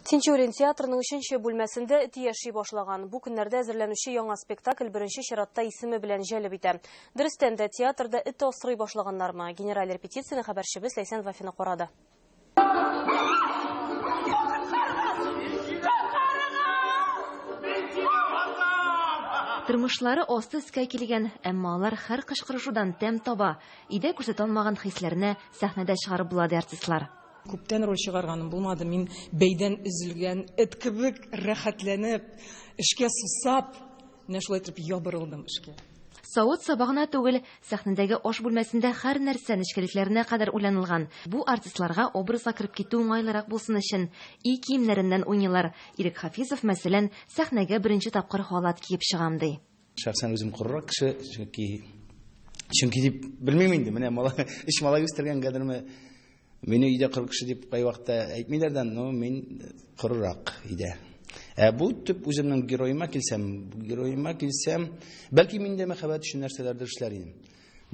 Тинчурин театрының өченче бүлмәсендә эт яши башлаган. Бу көннәрдә әзерләнүче яңа спектакль беренче чиратта исеме белән җәлеп итә. Дөрестән дә, театрда эт асрый башлаганнармы? Генераль репетицияне хәбәрчебез Ләйсән Вафина карады. Тормышлары асты өскә килгән, әмма алар һәр кычкырышудан тәм таба, өйдә күрсәтә алмаган хисләрне сәхнәдә чыгарып була, ди артистлар. Күптән роль чыгарганым булмады. Мин бәйдән өзелгән эт кебек рәхәтләнеп, эшкә сусап, менә шулай итеп ябырылдым эшкә. Савыт саба гына түгел, сәхнәдәге аш бүлмәсендә хәр нәрсә нечкәлекләренә кадәр уйланылган. Бу артистларга образга кереп китү уңайлырак булсын өчен, өй киемнәреннән уйныйлар. Ирек Хафизов, мәсәлән, сәхнәгә беренче тапкыр халат киеп чыгам, ди. Шәхсән үзем корырак кеше, чөнки чөнки дип белмим инде, менә малай, өч малай үстергән гадерме, мине өйдә кыр кеше дип кай вакытта әйтмиләр дә, но мин корырак өйдә. Ә бу төп үземнең героема килсәм, героема килсәм, бәлки миндә мәхәббәт өчен нәрсәләрдер эшләр идем.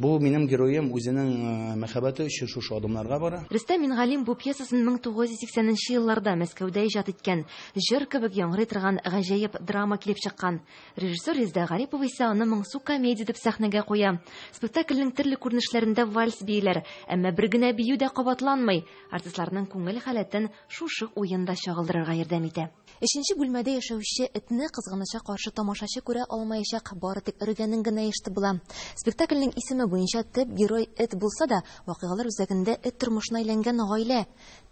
Бу минем героем үзенең мәхәббәте өчен шушы адымнарга бара. Рөстәм Мингалим бу пьесасын 1980 нче елларда Мәскәүдә иҗат иткән. Җыр кебек яңгырый торган гаҗәеп драма килеп чыккан. Режиссер Резда Гарипова исә аны моңсу комедия итеп сәхнәгә куя. Спектакльнең төрле күренешләрендә вальс бииләр, әмма бер генә бию дә кабатланмый. Артистларның күңел халәтен шушы уен да чагылдырырга ярдәм итә. Өченче бүлмәдә яшәүче этне кызганыча каршы тамашачы күрә алмаячак, бары тик өргәнен генә ишетеп була. Спектакльнең исеме буенча төп герой эт булса да, вакыйгалар үзәгендә эт тормышына әйләнгән гаилә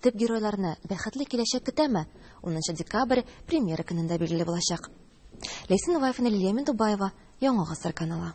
төп геройларны бәхетле киләчәк көтәме? Унынчы декабрь премьера көнендә билгеле булачак. Ләйсән Вафина, Лилия Миндубаева, Яңа гасыр каналы.